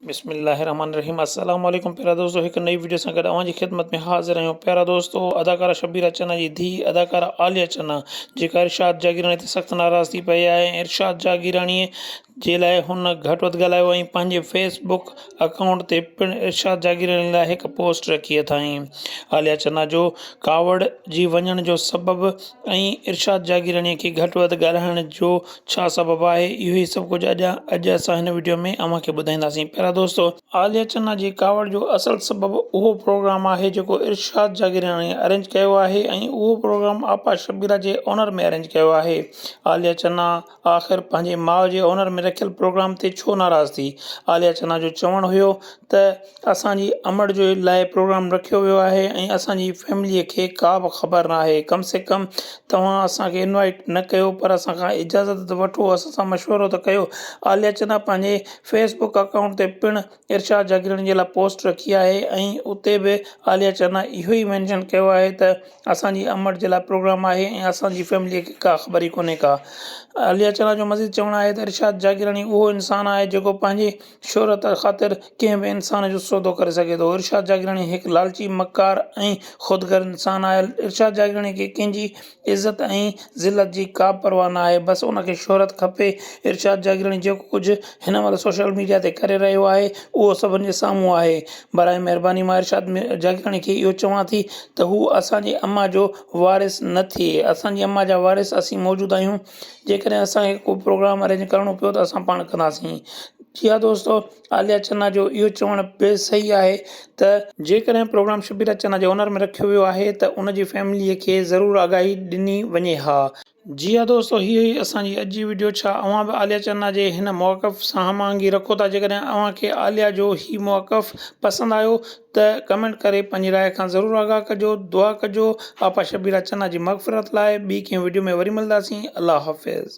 بسم الله الرحمٰن الرحيم السلام عليڪم پيارا دوستو هڪ نئي وڊيو سان گڏ اوهان جي خدمت ۾ حاضر آهيون پيارا دوستو اداڪارا شبيرا چنا جي ڌيء اداڪارا عاليا چنا جيڪا ارشاد جاگيراڻي تي سخت ناراض ٿي پئي آهي ۽ ارشاد جاگيراڻي جي لاء هن گهٽ وڌ ڳالهايو ۽ پنهنجي فيس بڪ اڪائونٽ تي پڻ ارشاد جاگيراڻي لاء هڪ پوسٽ رکي اٿائين عاليا چنا جو ڪاوڙجي وڃڻ جو سبب ۽ ارشاد جاگيراڻي کي گهٽ وڌ ڳالهائڻ جو ڇا سبب آهي اهو ئي سڀ ڪجهه اڄ اڄ اسان هن وڊيو ۾ اوهان کي ٻڌائينداسين پيارا دوستو عاليه چنا جي ڪاوڙ جو اصل سبب اهو پروگرام آهي جيڪو ارشاد جاگيراڻي ارينج ڪيو آهي ۽ اهو پروگرام آپا شبيرا جي اونر ۾ ارينج ڪيو آهي عاليه چنا آخر پنهنجي ماء جي اونر ۾ رکيل پروگرام تي ڇو ناراض ٿي عاليه چنا جو چوڻ هيو ته اسان جي امڙ جي لاء پروگرام رکيو ويو آهي ۽ اسان جي فيمليء کي ڪا به خبر نه آهي ڪم سي ڪم توهان اسان کي انوائيٽ نه ڪيو پر اسان کان اجازت ته وٺو اسان سان مشورو ته ڪيو عاليا چنا پنهنجي فيس بڪ اڪائونٽ تي پڻ ارشاد جاگيراڻي جي لاء پوسٽ رکي آهي ۽ اتي به عاليا چنا اهو ئي مينشن ڪيو آهي ته اسان جي امڙ جي لاء پروگرام آهي ۽ اسان جي فيمليء کي ڪا خبر ئي ڪونهي ڪا عاليا چنا جو مزيد چوڻ آهي ته ارشاد جاگيراڻي اهو انسان آهي جيڪو پنهنجي شهرت خاطر ڪنهن به انسان جو سودو ڪري سگهي ٿو. ارشاد جاگيراڻي هڪ لالچي، مڪار ۽ خودغرض انسان آهي. ارشاد جاگيراڻي کي ڪنهن جي عزت ۽ ذلت جي ڪابه پرواهه نه آهي. بس ان کي شهرت کپي. ارشاد جاگيراڻي جيڪو ڪجهه هن مهل سوشل ميڊيا تي ڪري رهيو آهي اهو سڀن جي سامهون آهي. براهه مهرباني مان ارشاد جاگيراڻي کي اهو چوان ٿي ته هو اسان جي امان جو وارث نه ٿئي. اسان جي امان جا وارث اسين موجود آهيون. جيڪڏهن اسان کي ڪو پروگرام ارينج ڪرڻو پيو ته اسان پاڻ ڪنداسين جي ها دوستو عاليا چنا جو اهو چوڻ بي صحيح آهي ته جيڪڏهن پروگرام شبيرا چنا جي اونر ۾ رکيو ويو آهي ته ان جي فيملي کي ضرور آگاهي ڏني وڃي ها. جي ها دوستو هي هئي اسان جي اڄ جي وڊيو ڇا اوهان به عاليا چنا جي هن موقف سان هماهنگي رکو ٿا جيڪڏهن اوهان کي عاليا جو هي موقف پسند آيو ته ڪمينٽ ڪري پنهنجي راء کان ضرور آگاهه ڪجو دعا ڪجو آپا شبيرا چنا جي مغفرت لاء ٻي ڪنهن وڊيو ۾ وري ملداسين الله حافظ.